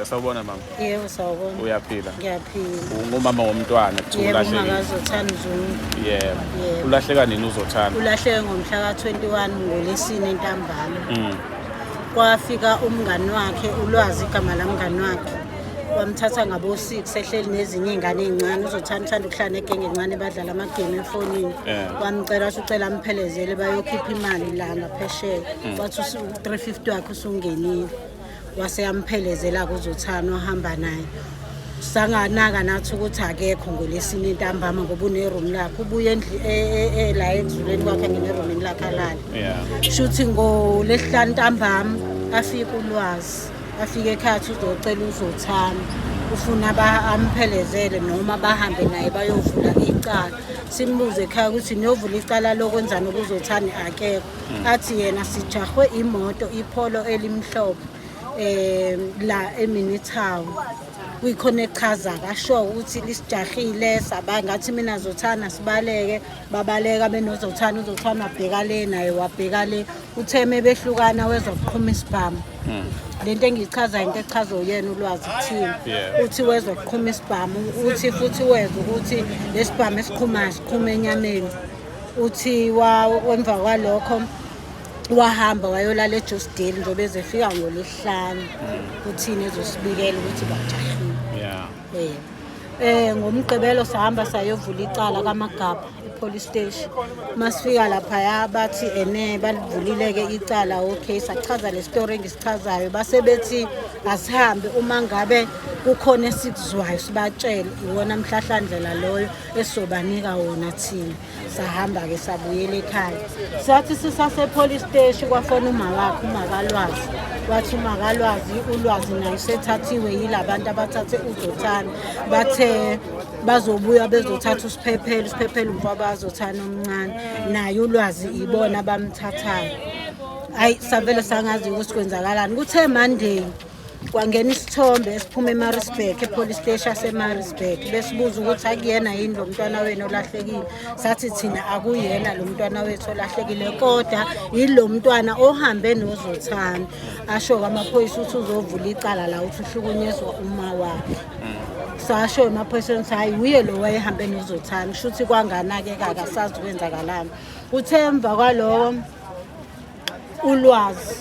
Sawubona mama. Yebo sawubona. Uyaphila? Ngiyaphila. Ungumama womntwana kuthiwa ulahlekile. Yebo akazothanda uzungu. Yebo. Ulahleka nini uzothanda? Ulahleke ngomhla ka-21 ngolesine ntambama. Mm. Kwafika umngani wakhe ulwazi igama lamngani wakhe. Wamthatha ngabo 6 ehleli nezinye izingane ezincane uzothanda uthanda ukuhlala negenge encane badlala ama game efonini. Eh. Wamcela usucela amphelezele bayokhipha imali la ngaphesheya. Mm. Wathi u 350 wakhe usungenile. wase yamphelezela kuzothana ohamba naye sanganaka nathi ukuthi akekho ngolesini intambama ngoba uneroom lakhe ubuye endli- e- e- e- la ekuzuleni kwakhe ngene eromini lakhe alale Yeah. shuthi ngolesihlanu ntambama afike ulwazi afike ekhathi uzocela uzothana ufuna ba- amphelezele noma bahambe naye bayovula icala simbuze ekhaya ukuthi niyovula icala lokwenzani ukuzothani akekho athi yena sijahwe imoto ipholo elimhlophe um la eminitown kuyikhona echaza kasho ukuthi lisijahile saba ngathi mina zothana sibaleke babaleka benozothana uzothana wabheka le naye wabheka le utheme behlukana wezokuqhuma isibhamu hmm. le nto engiyichaza into echaza uyena ulwazi kuthina uthi wezokuqhuma isibhamu uthi futhi weza ukuthi lesibhamu esiqhumayo siqhuma enyameni uthi emva kwalokho wahamba wayolala ejosdale njengoba ezefika ngolwesihlanu kuthini ezosibikela ukuthi bajahile um eh, ngomgqibelo sahamba sayovula icala kamagabha epolice station uma sifika laphaya bathi ene balivulile-ke icala okay sachaza le story engisichazayo basebethi asihambe uma ngabe kukhona esikuzwayo sibatshele iwona mhlahlandlela loyo esizobanika wona thina sahamba-ke sabuyela ekhaya sathi sisasepolice steshi kwafona umawakhe umakalwazi wathi umakalwazi ulwazi naye usethathiwe yila bantu abathathe uzothana bathe bazobuya bezothatha usiphephelo usiphephelo umfaba azothana omncane naye ulwazi ibona abamthathayo ayi savele sangazi ukuthi kwenzakalani kuthe monday kwangena isithombe esiphuma emarisburg epolice steshi asemarisburg besibuza ukuthi akuyena yini lo mntwana wenu olahlekile sathi thina akuyena lo mntwana wethu olahlekile kodwa yilo mntwana ohambe nozothanda asho kwamaphoyisa ukuthi uzovula icala la ukuthi uhlukunyezwa uma wakhe sasho emaphoyiseni ukuthi hhayi wuye lo wayehambe nozothanda kusho ukuthi kwanganake kakasazi kwenzakalani uthe emva kwaloko ulwazi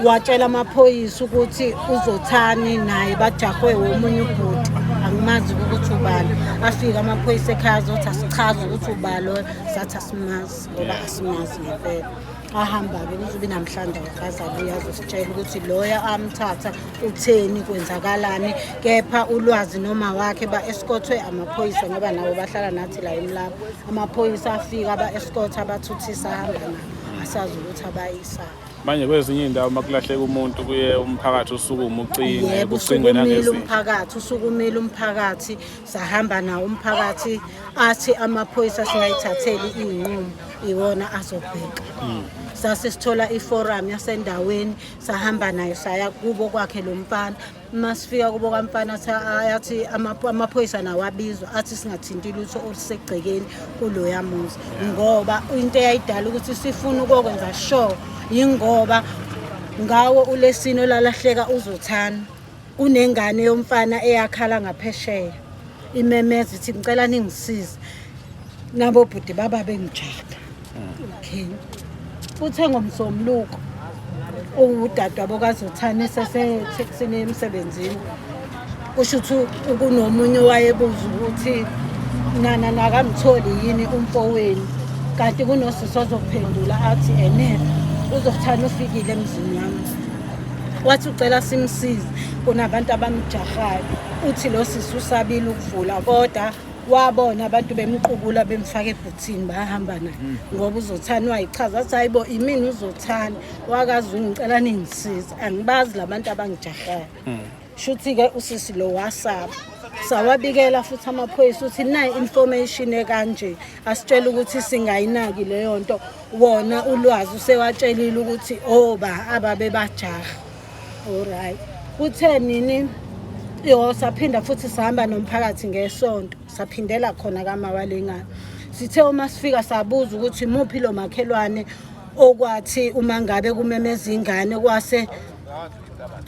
watshela amaphoyisa ukuthi uzothani naye bajahwe womunye ubhuti angimazi ukuthi ubani afike amaphoyisa ekhaya azothi asichaze ukuthi ubani loyo sathi asimazi ngoba asimazi ngempela ahamba-ke kuzobe namhlanje akazabuya azositshela ukuthi loya amthatha utheni kwenzakalani kepha ulwazi noma wakhe ba-eskothwe amaphoyisa ngoba nabo bahlala nathi la emlapho Amaphoyisa afika aba-escort abathuthisa ahamba nabo asazi ukuthi abayisa manje kwezinye iy'ndawo uma kulahleka umuntu kuye umphakathi usukume ucinge yebo kucingwe usukumile nangezinto umphakathi usukumile umphakathi sahamba nawo umphakathi athi amaphoyisa singayithatheli iy'nqumo iwona azobheka sase sithola iforum yasendaweni sahamba nayo saya kubo kwakhe lo mfana masifika kubo kamfana ayathi amaphoyisa nawo abizwa athi singathinti lutho olusegcekeni kuloya muzi ngoba into eyayidala ukuthi sifuna ukokwenza sure yingoba ngawo ulesini olalahleka uzothana kunengane yomfana eyakhala ngaphesheya imemeza ithi ngicela ningisize nabo bhuti baba bengijada okay uthe ngomsombuluko uwudadwa bokazothane sesetheksini emsebenzini kusho ukuthi kunomunye owayebuza ukuthi nana nakamtholi yini umfowenu kanti kunosisi ozophendula athi ene uzothana ufikile emzini wami wathi ucela simsize kunabantu abamjahayo uthi lo sisi usabile ukuvula kodwa wabona abantu bemqubula bemfaka ebhuthini bahamba naye mm. ngoba uzothani wayichaza athi hayi bo imini uzothani wakazi ungicela ningisiza angibazi labantu abangijahayo mm. Shuthi ke usisi lo wasaba sawabikela futhi amaphoyisa ukuthi nayi information ekanje asitshela ukuthi singayinaki leyo nto wona ulwazi usewatshelile ukuthi oba oh, ababe bajaha alright kuthe nini yo saphinda futhi sihamba nomphakathi ngesonto saphindela khona kamawalengane sithe uma sifika sabuza ukuthi muphi lo makhelwane okwathi uma ngabe kumemeza ingane kwase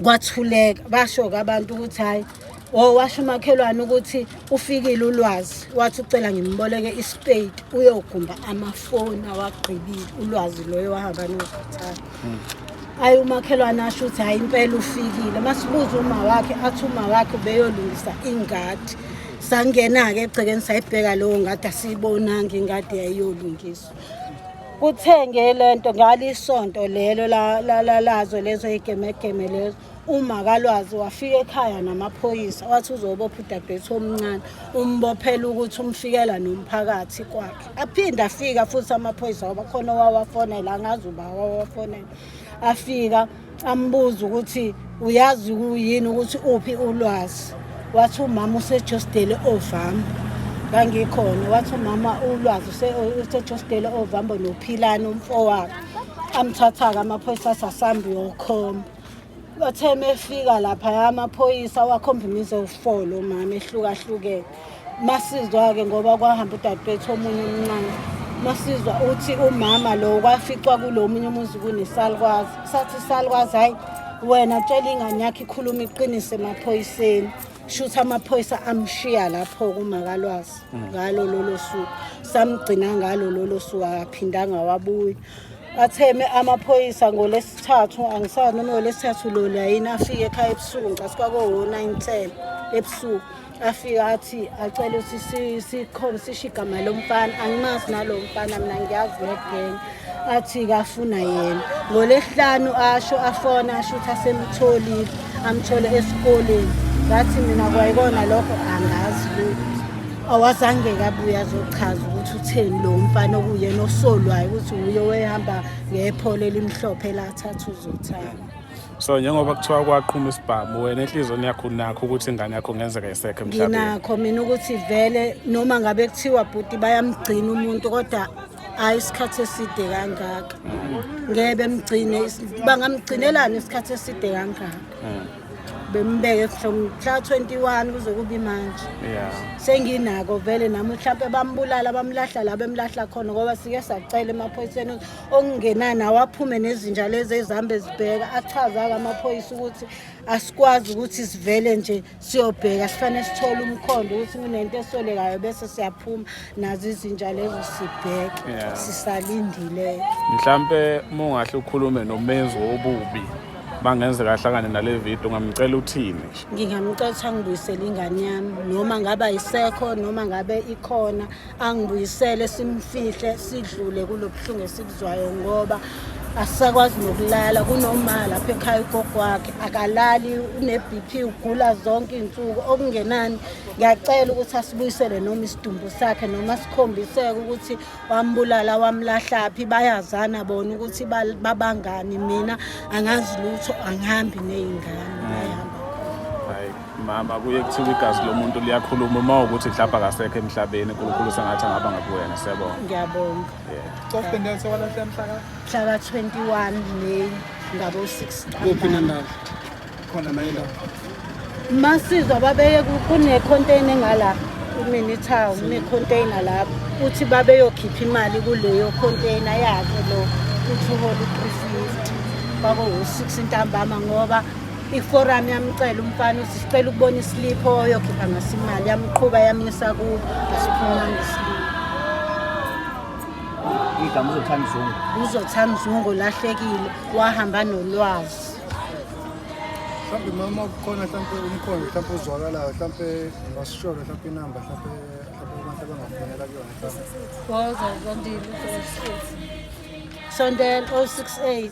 kwathuleka basho-ke abantu ukuthi hhayi o washo umakhelwane ukuthi ufikile ulwazi wathi ucela ngimboleke ispade uyogumba amafoni awagqibile ulwazi loyo wahamba nokuthatha hmm. ayi umakhelwane asho ukuthi hhayi impela ufikile masibuza uma wakhe athi uma wakhe ubeyolungisa ingadi sangena-ke egcekeni sayibheka lowo ngadi asiyibonanga ingadi yayiyolungiswa kuthenge lento ngalisonto lelo lazo lezo igemegeme lezo uma kalwazi wafika ekhaya namaphoyisa wathi uzobopha udadewethu omncane umbophela ukuthi umfikela nomphakathi kwakhe aphinde afika futhi amaphoyisa wabakhona wawafonela angazi uba wawafonela afika ambuza ukuthi uyazi kuyini ukuthi uphi ulwazi wathi umama usejostele ovambo ngangikhona wathi umama ulwazi usejostele ovambo nophilani umfowabo amthatha-ke amaphoyisa athi asambi yokhomba bathe uma efika laphaya amaphoyisa wakhomba imize ufolo umama ehlukahlukene masizwa-ke ngoba kwahamba udadewethu omunye omncane masizwa uthi umama lo kwaficwa kulo omunye umuzi kunesalukwazi sathi isalukwazi hhayi wena tshela ingane yakho ikhuluma iqinise emaphoyiseni shuthi amaphoyisa amshiya lapho kumakalwazi mm. ngalo lolo suku samgcina ngalo lolo suku akaphindanga wabuya atheme amaphoyisa ngolesithathu angisani noma ngolesithathu lona yini afike ekhaya ebusuku ngicasuka ko-nine ten ebusuku afike athi acele ukuthi sikhona sisho igama lomfana angimazi nalo mfana mina ngiyazi negeng athi kafuna yena ngolesihlanu asho afona asho ukuthi asemtholile amthole esikoleni ngathi mina kwayikona lokho angazi lutho awazange kabuya azochaza ukuthi utheni lo mfana okuyena osolwayo ukuthi uye wehamba ngephole elimhlophe lathatha uzothanda so njengoba kuthiwa kwaqhuma isibhamu wena enhliziyweni yakho unakho ukuthi ingane yakho kungenzeka isekho emhlabeni nginakho mina ukuthi vele noma ngabe kuthiwa bhuti bayamgcina umuntu kodwa hayi isikhathi eside kangaka ngeke bemgcine bangamgcinelani isikhathi eside kangaka hmm. bembeke from mhla 21 kuze kubi manje senginako vele nami mhlawumpe bambulala bamlahla la bemlahla khona ngoba sike sacela emaphoyiseni okungenani awaphume nezinja lezi ezihambe zibheka achaza-ke amaphoyisa ukuthi asikwazi ukuthi sivele nje siyobheka sifanele sithole umkhondo ukuthi kunento esolekayo bese siyaphuma nazo izinja lezo sibheke yeah. sisalindileyo mhlampe uma ungahle ukhulume nomenzi wobubi bangenze kahlangane nale video ngamcela uthini ngingamcela ukuthi angibuyisele ingane yami noma ngaba isekho noma ngabe ikhona angibuyisele simfihle sidlule kulobuhlungu esikuzwayo ngoba asisakwazi nokulala kunoma lapha ekhaya ugogo wakhe akalali une-bp ugula zonke iy'nsuku okungenani ngiyacela ukuthi asibuyisele noma isidumbu sakhe noma sikhombiseke ukuthi wambulala wamlahlaphi bayazana bona ukuthi babangani mina angazi lutho angihambi ney'ngane bayahamba Mama kuye kuthiwa igazi lomuntu liyakhuluma uma ukuthi mhlawumbe akasekho emhlabeni uNkulunkulu sengathi angaba ngakuwena siyabonga. Ngiyabonga. Yeah. Cough and Delta walahle mhla ka Mhla ka 21 May ngabo 6. kuphi nendawo? Khona nayo la. Masizwa babeye ku- kune container ngala kumini town kune container lapho uthi babeyokhipha imali kuleyo container yakhe lo uthi uhola u350 bako 6 intambama ngoba iforum yamcela umfana uthi sicela ukubona isilipho oyokhipha ngaso imali yamqhuba yamyisa kubo asiphumanga isilipho igama uzothanda izungu uzothanda izungu lahlekile wahamba nolwazi mhlawumbe mama kukhona mhlawumbe umkhondo mhlawumbe uzwakalayo mhlawumbe ngasisholo mhlawumbe inamba mhlawumbe mhlawumbe abantu abangafonela kuyona mhlawumbe sondela 068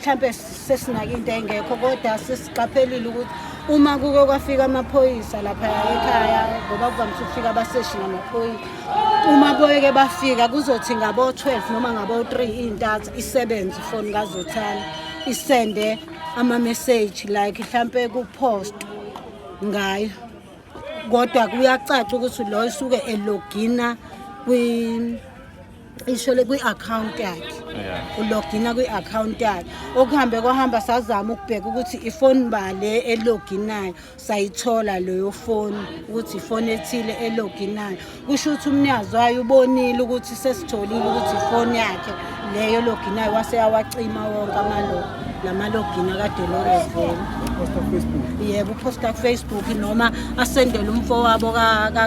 mhlampe sesinake into engekho kodwa sesiqaphelile ukuthi uma kuke kwafika amaphoyisa lapha ekhaya ngoba kuvamise ukufika abaseshi namaphoyisa uma boyeke bafika kuzothi ngabo-12 noma ngabo-3 iy'ntatha isebenze ifoni kazothana isende ama-message like mhlampe kupost ngayo kodwa kuyacaca ukuthi lo esuke elogina kwi ishole kwi-akhawunti yakhe ulogina kwi-akhawunti yakhe okuhambe kwahamba sazama ukubheka ukuthi ifoni bale eloginayo sayithola leyo foni ukuthi ifoni ethile eloginayo kusho ukuthi umnikazi wayo ubonile ukuthi sesitholile ukuthi ifoni yakhe leyo loginayo wase yawacima wonke amalo namalogina kaDelores Vele yebo uposta kufacebook noma asendele umfowabo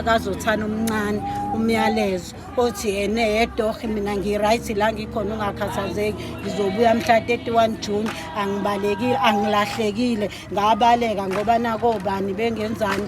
kazothana omncane umyalezo othi yena yedohi mina ngi-right la ngikhona ungakhathazeki ngizobuya mhla 31 june angibalekile angilahlekile ngabaleka ngoba nakobani bengenzani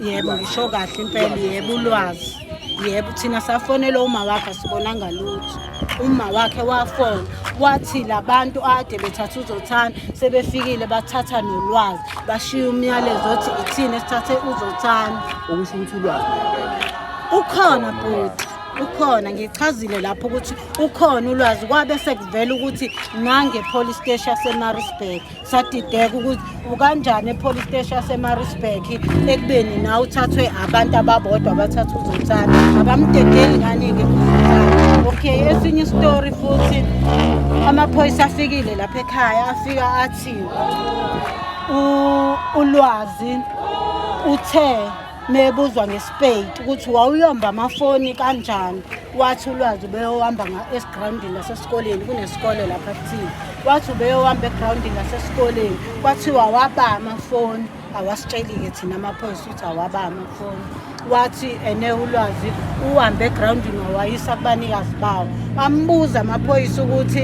yebo ngisho kahle impela yebo ulwazi yebo thina safonela uma wakhe asibonanga lutho uma wakhe wafona wathi labantu ade bethatha uzothana sebefikile bathatha nolwazi bashiya umyalezo othi ithini esithathe uzothana okusho ukuthi ulwazi ukhona bhuti ukhona ngichazile lapho ukuthi ukhona ulwazi kwabe sekuvela ukuthi nange police station yasemaritzburg sadideka ukuthi ukanjani epolice station yasemarisburg ekubeni na uthathwe abantu ababodwa abathatha uzothana abamdedeli ngani-ke okay esinye isitori futhi amaphoyisa afikile lapha ekhaya afika athi ulwazi uthe mebuzwa ngesipeyiti ukuthi wawuyomba amafoni kanjani wathi ulwazi ubeyohamba esigrawundini nasesikoleni kunesikole lapha kuthile wathi ubeyohamba egrawundini nasesikoleni kwathiwa waba amafoni awasitsheli-ke thina amaphoyisa ukuthi awaba amafoni wathi ene ulwazi uhambe egrawundini wawayisa kubanikazi bawo ambuza amaphoyisa ukuthi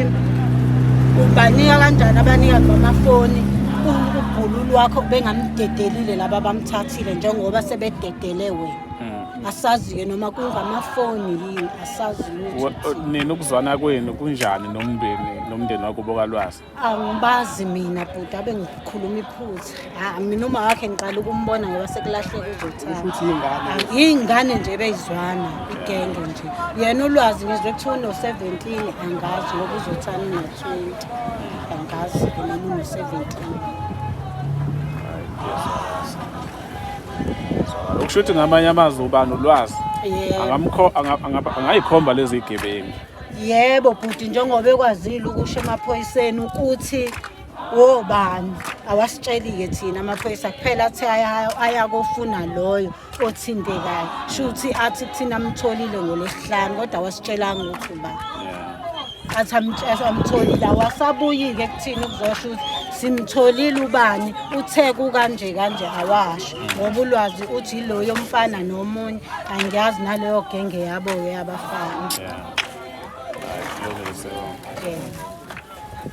ubanika kanjani abanikazi bamafoni ubhulu lwakho bengamdedelile laba bamthatha Thile njengoba sebededele wena hmm. asazi-ke noma kungamafoni yini asazi nini ukuzwana kwenu kunjani nomndeni nomndeni wakubo kalwazi angibazi mina bhuti abe ngikhuluma iphutha ha mina uma wakhe ngiqala ukumbona ngoba sekulahleka uzothana yiy'ngane nje beyizwana igenge nje yena ulwazi ngizwe kuthiwa uno-seventeen angazi ngoba uzothana uno-twenty angazi ke noma uno-seventeen ukusho ukuthi ngamanye amazwi uba nolwazi yebo Angamkho- anga- anga- angayikhomba lezi gebengu yebo bhuti njengoba ekwazile ukusho emaphoyiseni ukuthi wobani awasitsheli-ke thina amaphoyisa kuphela athi aya- ayakofuna loyo othintekayo shuthi athi kuthina amtholile ngolwesihlanu kodwa wasitshelanga ukuthi uba athi amtholile awasabuyi-ke kuthina ukuzosho ukuthi simtholile ubani uthe kukanje kanje awasho ngoba ulwazi uthi yiloyo mfana nomunye angiyazi naleyo genge yabo-ke abafana yeah.